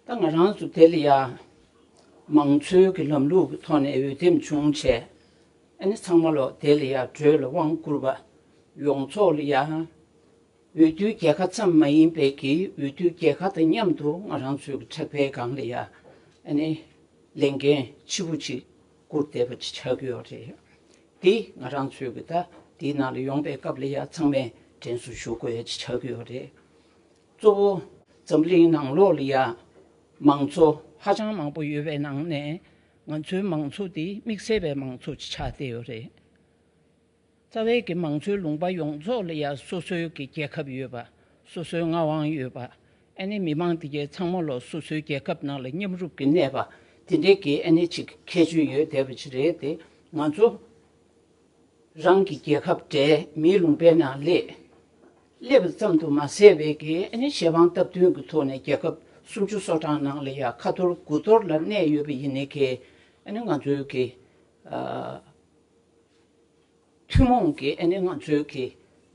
ད་ང་རང་ཚོ་དེ་ལ་ཡང་མང་གཙོའི་གི་ལམ་ལུགས་ཀྱི་ཐོག་ནས་འོས་འདེམས་བྱུང་བྱས་ཨ་ནི་ཚང་མ་ལ་དེ་ལ་ཡང་བྲོས་ལ་དབང་བསྐུར་བ་ཡོངས་ཚོགས་ལ་ཡང་འོས་བསྡུའི་རྒྱལ་ཁ་ཙམ་མ་ཡིན་པའི་གི་འོས་བསྡུའི་རྒྱལ་ཁ་དང་མཉམ་དུ་ང་རང་ཚོའི་གི་ཁྲག་འཕེལ་སྒང་ལ་ཡང་ཨ་ནི་ལས་འགན་ལྕི་པོ་ཅིག་བསྐུར་བསྡད་པ་ཅིག་ཆགས་ཀྱི་ཡོད་རེད་དེ་ང་རང་ཚོའི་གི་ད་དེའི་ནང་ལ་ཡོང་པའི་སྐབས་ལ་ཡང་ཚང་མས་དྲན་གསོ་ཞུ་དགོས་ཡ་ཅིག་ཆགས་ཀྱི་ཡོད་རེད། གཙོ་བོ། འཛམ་གླིང་ནང་ལོགས་ལ་ཡ། མང་གཙོ། ཧ་ཅང་མང་པོ་ཡོད་པའི་ནང་ནས། ང་ཚོའི་མང་གཙོ་འདི་དམིགས་བསལ་བའི་མང་གཙོ་ཆགས་བསྡད་ཡོད་རེད། རྩ་བའི་གི་མང་གཙོའི་ལུང་པ་ཡོངས་རྫོགས་ལ་ཡ་སོ་སོའི་གི་རྒྱལ་ཁབ་ཡོད་པ། སོ་སོའི་མངའ་དབང་ཡོད་པ། ཨ་ནི་མི་མང་འདི་གའི་ཚང་མ་ལོགས་སོ་སོའི་རྒྱལ་ཁབ་ནང་ལ་མཉམ་རུབ་གི་གནས་པ། འདི་འདྲའི་གི་ཨ་ནི་ཆིག་ཁྱད་ཆོས་ཡོད་བསྡད་པ་ཅིག་རེད་དེ། ང་ཚོ་རང་གི་རྒྱལ་ཁབ་འདྲའི་མིའི་ལུང་པའི་ནང་སླེབས། སླེབས་པ་ཙམ་དུ་མ་ཟད་བལ་གྱི་ཞལ་འཕང་སྟབས་བསྟུན་གྱི་ཐོག་ནས་རྒྱལ་ཁབ་སུམ་ཅུ་སོ་གྲངས་ནང་ལ་ཡང་ཁ་ཐོར་དགུ་ཐོར་ལ་གནས་ཡོད་པ་ཡིན་ནི་གས་ནི་ང་ཚོའི་གི་ཐུན་མོང་གི་ནི་ང་ཚོའི་གི་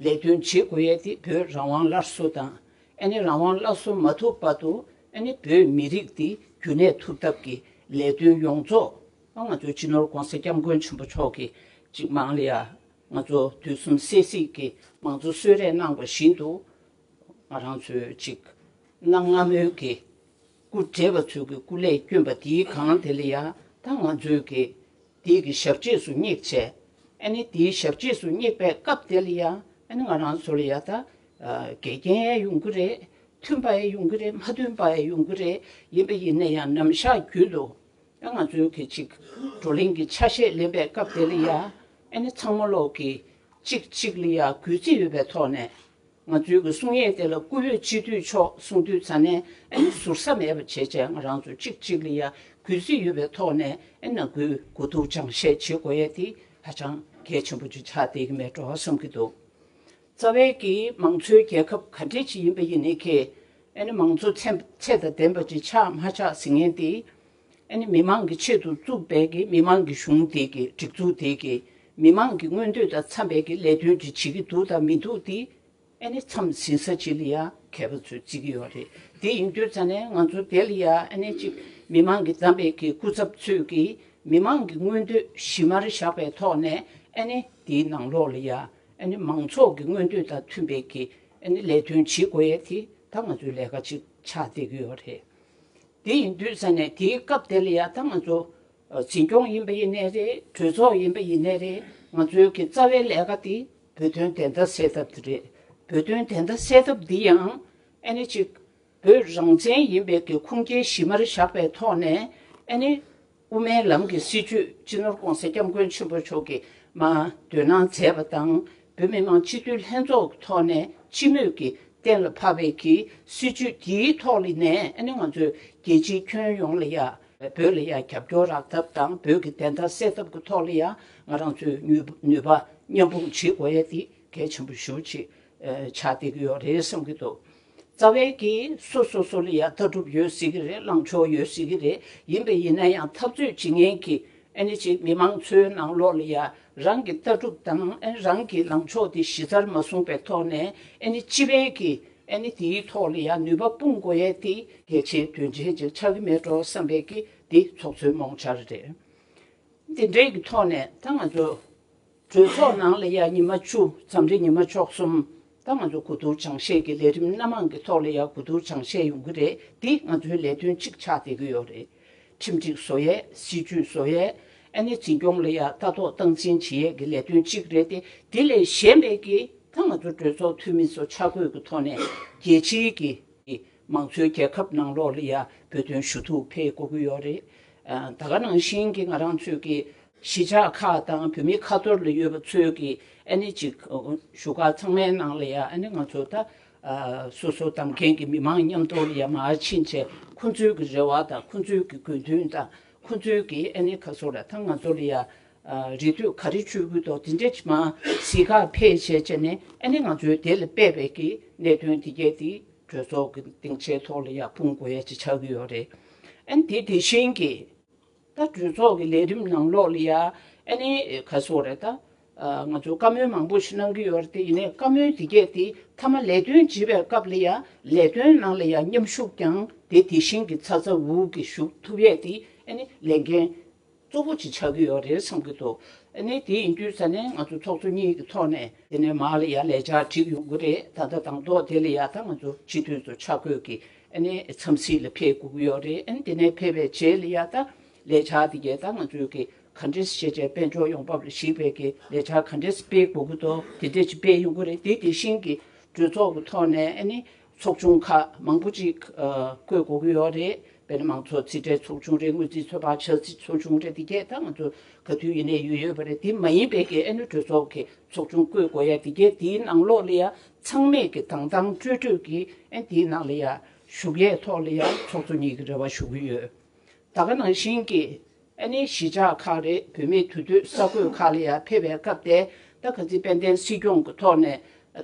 ལས་དོན་བྱེད་དགོས་ཡས་དེ་བོད་རང་དབང་སླར་གསོ་དང་ནི་རང་དབང་སླར་གསོ་མ་ཐུབ་བར་དུ་ནི་བོད་མི་རིགས་དེ་རྒྱུན་གནས་ཐུབ་ཐབས་ཀྱི་ལས་དོན་ཡོངས་རྫོགས་ང་ཚོའི་སྤྱི་ནོར ྋགོང་ས ྋསྐྱབས་མགོན་ཆེན་པོ་མཆོག་གི་ཅིག་མང་ལ་ཡང། ང་ཚོ་དུས་གསུམ་སད་སིད་ཀྱི་མང་གཙོ་གསོལ་རས་གནང་བ་བཞིན་དུ། ང་རང་ཚོས་ཅིག་གནང་སྔ་མོའི་གི་སྐུ་བགྲེས་པ་ཚོས་ཀྱི་སྐུ་ལས་བསྐྱོན་པ་དེའི་གང་དེ་ལ་ཡང་ད་ང་ཚོས་ཀྱི་དེའི་གི་ཞབས་རྗེས་སུ་སྙེག་ཆེད་ཨ་ནི་དེའི་ཞབས་རྗེས་སུ་སྙེག་པའི་སྐབས་དེ་ལ་ཡང་ཨ་ནི་ང་རང་ཚོ་ལ་ཡང་ད་འགལ་རྐྱེན་ཡང་ཡོང་གི་རེད་མཐུན་པ་ཡང་ཡོང་གི་རེད་མ་མཐུན་པ་ཡང་ཡོང་གི་རེད་ཡིན་པ་ཡིན་ན་ཡང་ནམ་ཞག་རྒྱུན་དུ་ང་ཚོའི་གི་ཅིག་བགྲོ་གླེང་གི་ཆ་ཤས་ལེན་པའི་སྐབས་དེ་ལ་ཡ་ཨེ་ནི་ཚང་མ་ལོག་གི་ཅིག་གཅིག་ལ་ཡ་གུས་བརྩི་ཡོད་པའི་ཐོག་ནས་ང་ཚོའི་གི་གསུང་ཡན་དེ་ལ་བཀུར་འོས་སྤྱི་འཐུས་མཆོག་གསུང་དུས་ཚ་ནས་ཨེ་ནི་ཟུར་ཟ་མེད་པ་བྱེད་བྱས་ང་རང་ཚོ་ཅིག་གཅིག་ལ་ཡ་གུས་བརྩི་ཡོད་པའི་ཐོག་ནས་ཨེ་ན་གུས་དགོས་འདུག་ཅང་བཤད་བྱེད་དགོས་ཡ་དེ་ཧ་ཅང་གལ་ཆེན་པོ་ཅིག་ཆགས་བསྡད་གི་མེད་འགྲོ་བ་བསམ་གི་འདུག་རྩ་བའི་གི་མང་གཙོའི་རྒྱལ་ཁབ་ག་འདྲའི་ཅི་ཡིན་པ་ཡིན་ནི་གི། ཨ་ནི་མང་གཙོ་ཚན་ཚད་དང་ལྡན་པ་ཅིག་ཆགས་མ་ཆགས་ཟིན་ངེས་ཏེ། ཨ་ནི་མི་མང་གི་ཆེད་དུ་བཙུགས་པའི་གི་མི་མང་གི་གཞུང་དེ་གི་སྒྲིག་འཛུགས་དེ་གི་མི་མང་གི་མངོན་འདོད་དང་འཚམས་པའི་གི་ལས་དོན་ཅིག་བྱེད་ཀྱི་འདུག་དང་མི་འདུག་དེ་ཨ་ནི་འཚམས་ཟིན་ས་ཅིག་ལ་ཡང་མཁས་པ་ཚོས་བརྩི་གི་ཡོད་རེད་དེ་ཡིན་དུས་ཙང་ནས་ང་ཚོ་དེ་ལ་ཡང་ཨ་ནི་ཅིག་མི་མང་གི་བདམས་པའི་གི་སྐུ་ཚབ་ཚོས་གི་མི་མང་གི་མངོན་འདོད་གཞི་མར་བཞག་པའི་ཐོག་ནས་ཨ་ནི་དེའི་ནང་ལོགས་ལ་ཡང་མང་ཚོགས་ཀྱི་མངོན་འདོད་དང་མཐུན་པའི་གི་ལས་དོན་བྱེད་དགོས་ཡས་དེ་ད་ང་ཚོའི་ལས་ཀ་ཅིག་ཆགས་བསྡད་ཀྱི་ཡོད་རེད། དེ་ཡིན་དུས་ས་ནས་དེའི་སྐབས་དེ་ལ་ཡ་ད་ང་ཚོ་འཛིན་སྐྱོང་ཡིན་པ་ཡིན་ནས་རེད་གྲོས་ཚོགས་ཡིན་པ་ཡིན་ནས་རེད་ང་ཚོའི་གི་རྩ་བའི་ལས་ཀ་དེ་བོད་དོན་བདེན་མཐའ་གསལ་ཐབས་དེ་རེད་བོད་དོན་བདེན་མཐའ་གསལ་ཐབས་འདི་ཡང་ཅིག་བོད་རང་བཙན་ཡིན་པའི་ཀྱི་ཁུངས་སྐྱེལ་གཞི་མར་བཞག་པའི་ཐོག་ནས་ཨ་ནི། དབུ་མའི་ལམ་གྱི་སྲིད་བྱུས་སྤྱི་ནོར ྋགོང་ས ྋསྐྱབས་མགོན་ཆེན་པོ་མཆོག་གིས་མ་འདོད་གནང་མཛད་པ་དང་བོད་མི་མང་སྤྱི་འཐུས་ལྷན་ཚོགས་ཀྱི་ཐོག་ནས་སྤྱི་མོས་ཀྱིས་གཏན་ལ་ཕབ་པའི་ཀྱི་སྲིད་བྱུས་དེའི་ཐོག་ལི་ནས་ཨ་ནི་ང་ཚོས་རྒྱལ་སྤྱིའི་ཁྱོན་ཡོངས་ལ་ཡང་བོད་ལ་ཡང་རྒྱབ་སྐྱོར་རག་ཐབས་དང་བོད་ཀྱི་བདེན་མཐའ་སེལ་ཐབས་ཀྱི་ཐོག་ལ་ཡང་ང་རང་ཚོས་ནུས་པ་མཉམ་སྤུངས་བྱེད་དགོས་ཡ་དེ་གལ་ཆེན་པོ་ཞུ་ཆེད་ཕྱག་བཏེག་གི་ཡོད་རེད་བསམ་གྱི་འདུག། རྩ་བའི་གིས་སུ་སོ་སོ་ལ་ཡང་ལྟ་གྲུབ་ཡོད་སྲིད་ཀྱི་རེད་ལངས་ཕྱོགས་ཡོད་སྲིད་ཀྱི་རེད་ཡིན་པས་ཡིན་ན་ཡང་འཐབ་རྩོད་བྱེད་མཁན་གྱི་ཨནི་ཅིག་མི་མང་ཚོའི་ནང་ལོགས་ལ་ཡང་རང་གི་ལྟ་གྲུབ་དང་ཨནི་རང་གི་ལངས་ཕྱོགས་དེ་གཞི་རྩར་མ་བཟུང་པའི་ཐོག་ནས་ཨནི་སྤྱི་ཕན་གྱི་ཨནི་དེའི་ཐོག་ལ་ཡང་ནུས་པ་སྤུངས་དགོས་ཡས་ཏེ། གལ་ཆེའི་དོན་ཆེན་ཅིག་ཆགས་ཀྱི་མེད་འགྲོ་བསམ་པས་ཀྱི་འདི་ཚོགས་ཚོའི་རྨོངས་འཆར་རེད། འདི་འདྲའི་གི་ཐོག་ནས་ད་ང་ཚོ་གྲོས་ཚོགས་ནང་ལ་ཡག་ཉི་མ་བཅུ་ཙམ་རེ་ཉི་མ་མཆོག་གསུམ་ད་ང་ཚོ་གོ་བསྡུར་སྦྱང་བཤད་ཀྱི་ལས་རིམ་སྣ་མང་གི་ཐོག་ལ་ཡག་གོ་བསྡུར་སྦྱང་བཤད་ཡོང་གི་རེད་འདི་ང་ཚོའི་ལས་དོན་གཅིག་ཆགས་བསྡད་ཀྱི་ཡོད་རེད་ཁྲིམས་སྒྲིག་བཟོ་ཡས་སྲིད་ཇུས་བཟོ་ཡས་ཨ་ནེ་འཛིན་སྐྱོང་ལ་ཡག་ལྟ་རྟོག་སྟངས་འཛིན་བྱེད་ཡས་ཀྱི་ལས་དོན་གཅིག་རེད་དེ་དེ་ལས་གཞན་པའི་གི་ད་ང་ཚོ་གྲོས་ཚོགས་འཐུས་མི་ཚོ་ཆ་བགོས་ཀྱི་ཐོག་ནས་རྒྱལ་སྤྱིའི་གི་མང་གཙོའི་རྒྱལ་ཁབ་ནང་ལོགས་ལ་ཡག་བོད་དོན་ཞུ་གཏུག་འཕེལ་དགོས་ཀྱི་ཡོད་རེད་ད་ག་ནང་བཞིན་གྱི་ང་རང་ཚོས་གི། གཞིས་ཆགས་ཁག་དང་བོད་མི་ཁ་ཐོར་ལ་ཡོད་པ་ཚོས་ཀྱི་ཨ་ནི་ཅིག་བཞུགས་སྒར་ཚང་མའི་ནང་ལ་ཡ་ཨ་ནི་ང་ཚོ་ད་སོ་སོ་གདམ་མཁན་གྱི་མི་མང་མཉམ་དོར་ལ་ཡ་མ་ཕྱིན་ཚེ་ཁོ་ཚོའི་གི་རེ་བ་དང་ཁོ་ཚོའི་གི་དགོས་འདུན་དང་ཁོ་ཚོའི་གི་ཨ་ནི་ཁ་སོ་ལ་ད་ང་ཚོ་ལ་ཡ་རེ་དུས་ག་རེ་བྱུས་གུས་དོག་དེ་འདྲེ་ཅི་མ་གཟིགས་ཁ་འཕེལ་བྱས་བྱས་ནས་ཨ་ནི་ང་ཚོའི་དེ་ལ་དཔེ་བས་གི་གནད་དོན་དེ་གས་དེ་གྲོས་ཚོགས་གི་སྡིངས་ཆའི་ཐོག་ལ་ཡ་སྤུངས་དགོས་ཡ་ཅི་ཆགས་གི་ཡོད་རེད་ཨ་ནི་དེ་དེ་བཞིན་གྱི། ད་གྲོས་ཚོགས་ཀྱི་ལས་རིམ་ནང་ལོགས་ལ་ཡ་ཨ་ནི་ག་སོགས་རེད་ད། ང་ཚོ་བཀའ་མོལ་མང་པོ་ཞིག་གནང་གི་ཡོད་རེད་དེ་ཡིན་ནའི་བཀའ་མོལ་དེ་གས་དེ་མཐའ་མ་ལས་དོན་བྱེད་པའི་སྐབས་ལ་ཡ་ལས་དོན་ནང་ལ་ཡ་མཉམ་ཞུགས་ཀྱང་དེ་དེ་བཞིན་གྱི་ཚ་ཚ་འུར་འུར་གྱི་ཞུགས་ཐུབ་ཡས་དེ་ཨ་ནི་ལས་འགན་གཙོ་བོ་ཅིག་ཆགས་ཀྱི་ཡོད་རེད་བསམ་གྱི་འདུག་ཨ་ནི་དེ་ཡིན་དུས་ད་ནས་ང་ཚོ་ཚོགས་གཙོ་གཉིས་ཀྱི་ཐོག་ནས། དེ་ནས་མར་ལ་ཡ་ལས་འཆར་བསྒྲིགས་ཡོང་གི་རེད་ད་ལྟ་དང་ཐོག་དེ་ལ་ཡ་ད་ང་ཚོ་སྤྱི་འཐུས་ཚོ་ཆ་བགོས་ཀྱིས་ཨནི་མཚམས་ཚིགས་ལ་ཕེ་གུག་ཡོད་རེད་ཨན་དེ་ནས་ཕེ་བའི་ཇའི་ལི་ཡ་ད་ལས་བྱ་དེ་གས་ད་ང་ཚོའི་གི་ག་འདྲེས་ཤེས་བྱའི་དཔལ་འབྱོར་ཡོང་འབབ་ལ་གཞིགས་པའི་གི་ལས་བྱ་ག་འདྲེས་སྤེལ་དགོས་གི་དོ་དེ་འདྲེས་ཅིག་སྤེལ་ཡོང་གི་རེད་དེ་དེ་བཞིན་གི་གྲོས་ཚོགས་གི་ཐོག་ནས་ཨནི་ཚོགས་ཆུང་ཁག་མང་པོ་ཅིག་བསྐོས་དགོས་གི་ཡོད་རེད་དཔེར་ན་མང་ཚོགས་རྩིས་ཁྲའི་ཚོགས་ཆུང་རེད་དངུལ་རྩིས་ཚོད་དཔག་བྱ་རྩིས་ཚོགས་ཆུང་རེད་དེ་གས་ད་ང་ཚོ་ག་དུས་ཡིན་ནས་ཡུལ་ཡོད་པ་རེད་དེ་མ་ཡིན་པའི་གི་ཨནི་གྲོས་ཚོགས་གི་ཚོགས་ཆུང་བསྐོས་དགོས་ཡ་དེ་གས་དེའི་ནང་ལོགས་ལི་ཡ་ཚང་མས་ཀྱི་དང་ཐང་སྤྲོས་སྤྲོས་ཀྱི་ཨན་དེའི་ནང་ལ་ཡང་ཞུགས་ཡས་ཐོག་ལ་ཡང་ཚོགས་གཙོ་གཉིས་ཀྱི་རེ་བ་ཞུ་གི་ཡོད་ད་ག་ནང་བཞིན་ཀྱི་ཨ་ནི་གཞིས་ཆགས་ཁག་རེད་བུད་མེད་དུས་དུས་ས་རྒོད་ཁག་ལ་ཡང་ཕེབས་པའི་སྐབས་དེ་ད་ག་ཚི་དཔལ་ལྡན་སྲིད་སྐྱོང་གི་ཐོག་ནས་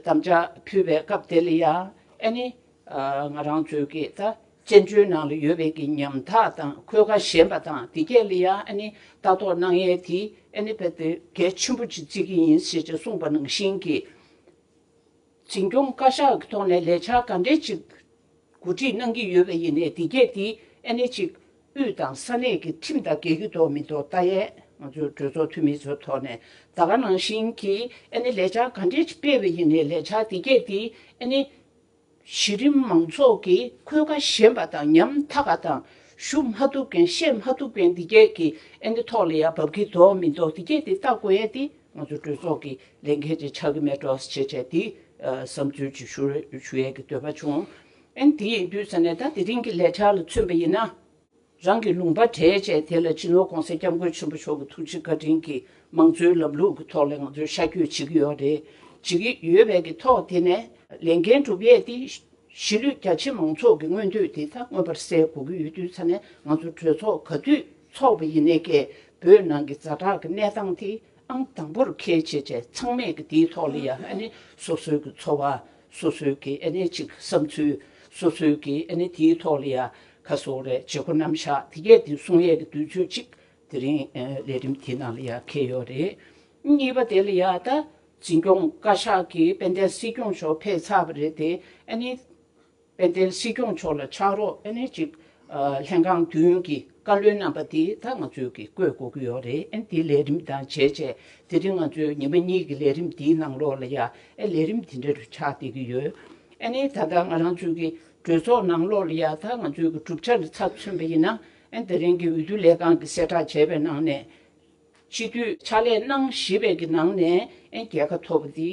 དམ་བཅའ་ཕུལ་བའི་སྐབས་དེ་ལ་ཡང་ཨ་ནི་ང་རང་ཚོས་ཀྱི་ད་བཙན་བྱོལ་ནང་ལ་ཡོད་པའི་ཀྱི་ཉམ་ཐག་དང་འཁོས་ཀ་ཞན་པ་དང་དེ་སྐད་ལ་ཡང་ཨ་ནི་ལྟ་རྟོག་གནང་ཡས་དེ་ཨ་ནི་བལ་དེ་གལ་ཆེན་པོ་ཅིག་བརྩི་ཀྱི་ཡིན་ཟེར་ཅིག་གསུངས་པ་ནང་བཞིན་ཀྱི། འཛིན་སྐྱོང་བཀའ་ཤག་གི་ཐོག་ནས་ལས་འཆར་ག་འདྲའི་ཅིག་གོ་སྒྲིག་གནང་གི་ཡོད་པ་ཡིན་ནའི་དེ་གས་དེ་ཨེ་ནས་ཅིག་དབུས་དང་ས་གནས་ཀྱི་ཁྲིམས་དང་འགལ་གྱི་དོག་མི་དོག་ལྟ་ཡས་ང་ཚོའི་གྲོས་ཚོགས་འཐུས་མི་ཚོའི་ཐོག་ནས་ད་ག་ནང་བཞིན་གྱི་ཨེ་ནས་ལས་འཆར་ག་འདྲའི་ཅིག་སྤེལ་བའི་ཡིན་ནའི་ལས་འཆར་དེ་གས་དེ་ཨེ་ནས། གཞི་རིམ་མང་ཚོགས་ཀྱིས་འཁོས་ཀ་ཞན་པ་དང་ཉམ་ཐག་པ་དང་ཞུ་མ་ཐུབ་མཁན་བཤད་མ་ཐུབ་མཁན་འདི་སྐད་ཀྱི་ཨེ་འདི་ཐོག་ལ་ཡ་བབ་ཀྱི་འདོག་མི་འདོག་འདི་སྐད་དེ་ལྟ་དགོས་ཡ་འདི་ང་ཚོ་གྲོས་ཚོགས་ཀྱི་ལས་འགན་ཅིག་ཆགས་ཀྱི་མེད་འགྲོ་ཞེས་བྱས་འདི་བསམ་ཚུལ་ཅིག་ཞུ་ཞུ་ཡས་ཀྱི་འདོད་པ་བྱུང་ཨེ་འདི་ཡིན་དུས་ས་གནས་ད་དེ་རིང་གི་ལས་འཆར་ལ་མཚོན་པ་ཡིན་ན། རང་གི་ལུང་པ་གྲས་བཅས་དེ་ལ་སྤྱི་ནོར ྋགོང་ས ྋསྐྱབས་མགོན་ཆེན་པོ་མཆོག་གི་ཐུགས་རྗེ་བཀའ་དྲིན་གྱིས་མང་གཙོའི་ལམ་ལུགས་ཀྱི་ཐོག་ལ་ང་ཚོས་ཤར་སྐྱོད་བྱེད་ཀྱི་ཡོད་རེད། བྱེད་ཀྱི་ཡོད་བས་ཀྱི་ཐོག་དེ་ནས་ལས་འགན་སྒྲུབ་ཡས་ཏེ། གཞིས་ལུས་རྒྱ་ཆེ་མང་ཚོགས་ཀྱི་མངོན་འདོད་དེ་ད་མངོན་པར་གསལ་གོ་གི་ཡོད་དུས་ཚ་ནས་ང་ཚོ་གྲོས་ཚོགས་ག་དུས་ཚོགས་པ་ཡིན་ནས་སྐད་འབོད་ནང་གི་རྫ་དྲག་གི་གནས་སྟངས་དེ་ཨང་དང་པོར་ཁེལ་བྱས་བྱས་ཚང་མས་ཀྱི་དེའི་ཐོག་ལ་ཡང་ཨ་ནི་སོ་སོའི་ཀྱི་འཚོ་བ་སོ་སོའི་ཀྱི་ཨ་ནི་ཅིག་བསམ་ཚུལ་སོ་སོའི་ཀྱི་ཨ་ནི་དེའི་ཐོག་ལ་ཡང་ཁ་སོ་རས་བྱེད་སྒོ་རྣམ་བཞག་དེ་གས་དེ་གསུང་ཡས་ཀྱི་དུས་ཚོད་གཅིག་དེ་རིང་ལས་རིམ་དེའི་ནང་ལ་ཡ་ཁེ་ཡོད་རེད། གཉིས་པ་དེ་ལ་ཡ་ད་འཛིན་སྐྱོང་བཀའ་ཤག་གིས་དཔལ་ལྡན་སྲིད་སྐྱོང་མཆོག་ཕེབས་ཚར་བ་རེད་དེ་ཨ་ནི། དཔལ་ལྡན་སྲིད་སྐྱོང་མཆོག་ལ་ཕྱག་རོགས་ཨ་ནི་གཅིག་ལྷན་ཁང་བདུན་གྱི་བཀའ་བློན་རྣམ་པ་དེ་ད་ང་ཚོས་ཀྱིས་བསྐོས་དགོས་ཀྱི་ཡོད་རེད་ཨ་ནི་དེ་ལས་རིམ་དང་བྱས་བྱས་དེ་རིང་ང་ཚོས་ཉི་མ་གཉིས་ཀྱི་ལས་རིམ་དེའི་ནང་ལོགས་ལ་ཡ་ཨེ་ལས་རིམ་དེ་འདྲ་རུ་ཆགས་བསྡད་ཀྱི་ཡོད་ཨ་ནི་ད་ད་ང་རང་ཚོས་ཀྱིས་གྲོས་ཚོགས་ནང་ལོ་རེ་ཡར་ཐར་ང་ཚོའི་གྲུབ་ཆ་ལ་ཚབ་མཚོན་པ་ཡིན་ན། དེ་རིང་གི་འོས་བསྡུ་ལས་ཁང་གི་གསལ་བསྒྲགས་བྱས་པའི་ནང་ནས། སྤྱི་འཐུས་ཕྱག་ལས་གནང་བཞི་པའི་གི་ནང་ནས་རྒྱལ་ཁ་ཐོབ་པ་དེ་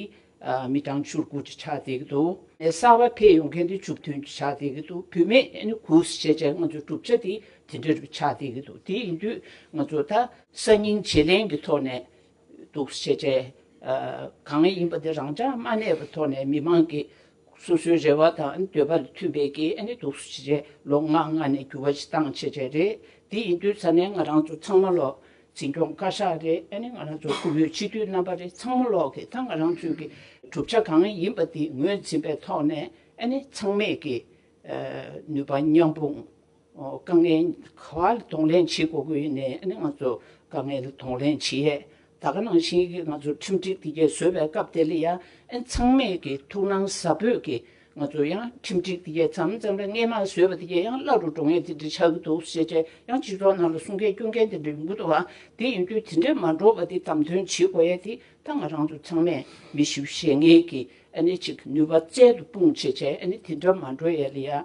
མི་གྲངས་བཅུར་དགུ་ཅིག་ཆགས་བསྡད་ཀྱི་འདུག་གསར་པ་ཕེབས་ཡོང་མཁན་དེ་བཅུ་བདུན་ཅིག་ཆགས་བསྡད་ཀྱི་འདུག་བུད་མེད་དགུ་བཅས་བྱས་ང་ཚོའི་གྲུབ་ཆ་དེ་དེ་འདྲ་རུ་ཆགས་བསྡད་ཀྱི་འདུག་དེ་ཡིན་དུས་ང་ཚོ་ད། གསར་རྙིང་བྱེད་ལེན་གྱི་ཐོག་ནས་གཏུག་བྱེད་ཆས་གང་ཡིན་པ་དེ་རང་འཇགས་མ་གནས་པའི་ཐོག་ནས་མི་མང་གི་སོ་སོའི་རེ་བ་དང་འདོད་པ་ལ་མཐུན་པའི་གིས་གཏུག་བྱེད་ཆས་ལོ་ལྔ་ལྔ་ནས་འགྱུར་བ་བཏང་བྱེད་ཆས་རེད། དེ་ཡིན་དུས་ས་གནས་ང་རང་ཚོ་ཚང་མ་ལོག་འཛིན་སྐྱོང་བཀའ་ཤག་རེད་ང་རང་ཚོ་ཁུ་བོའི་སྤྱི་འཐུས་རྣམ་པ་རེད་ཚང་མ་ལོག་གིས་ད་ང་རང་ཚོའི་གི་གྲུབ་ཆ་གང་ཡིན་པ་དེ་ངོས་འཛིན་པའི་ཐོག་ནས་ཚང་མས་གིས་ནུས་པ་མཉམ་སྤུངས། དཀའ་ངལ་ག་བ་ལ་གདོང་ལེན་བྱེད་དགོས་ཀྱི་ཡོད་ནས་ང་ཚོ་དཀའ་ངལ་ལ་གདོང་ལེན་བྱེད་ཡས་ད་ག་ནང་བཞིན་གྱི་ང་ཚོ་ཁྲིམས་སྒྲིག་འདི་གས་བཟོས་པའི་སྐབས་དེ་ལ་ཡང་ཚང་མས་ཀྱི་ཐུགས་སྣང་ཟབ་འབོད་ཀྱི་ང་ཚོ་ཡང་ཁྲིམས་སྒྲིག་འདི་གས་ཙམ་ཙམ་རེ་སྔས་མ་བཟོས་པ་དེ་གས་ཡང་བླ་རུ་འགྲོ་ངེས་དེ་འདྲ་ཆགས་ཀྱི་འདུག་ཞེས་བྱས་ཡང་སྤྱི་ཚོགས་ནང་ལ་གསུང་མཁན་སྐྱོན་མཁན་དེ་འདྲ་ཡོང་གྱི་འདུག་བ་དེ་ཡིན་དུས་དེ་འདྲས་མ་འགྲོ་བ་དེ་བདམས་ཐོན་བྱེད་དགོས་ཡས་དེ་ད་ང་རང་ཚོ་ཚང་མས་མི་ཞིབ་བྱེད་ངེས་ཀྱི་ཨ་ནི་ཅིག་ནུས་པ་རྩལ་དུ་སྤུངས་བྱས་བྱས་ཨ་ནི་དེ་འདྲ་མ་འགྲོ་ཡས་ལ་ཡང།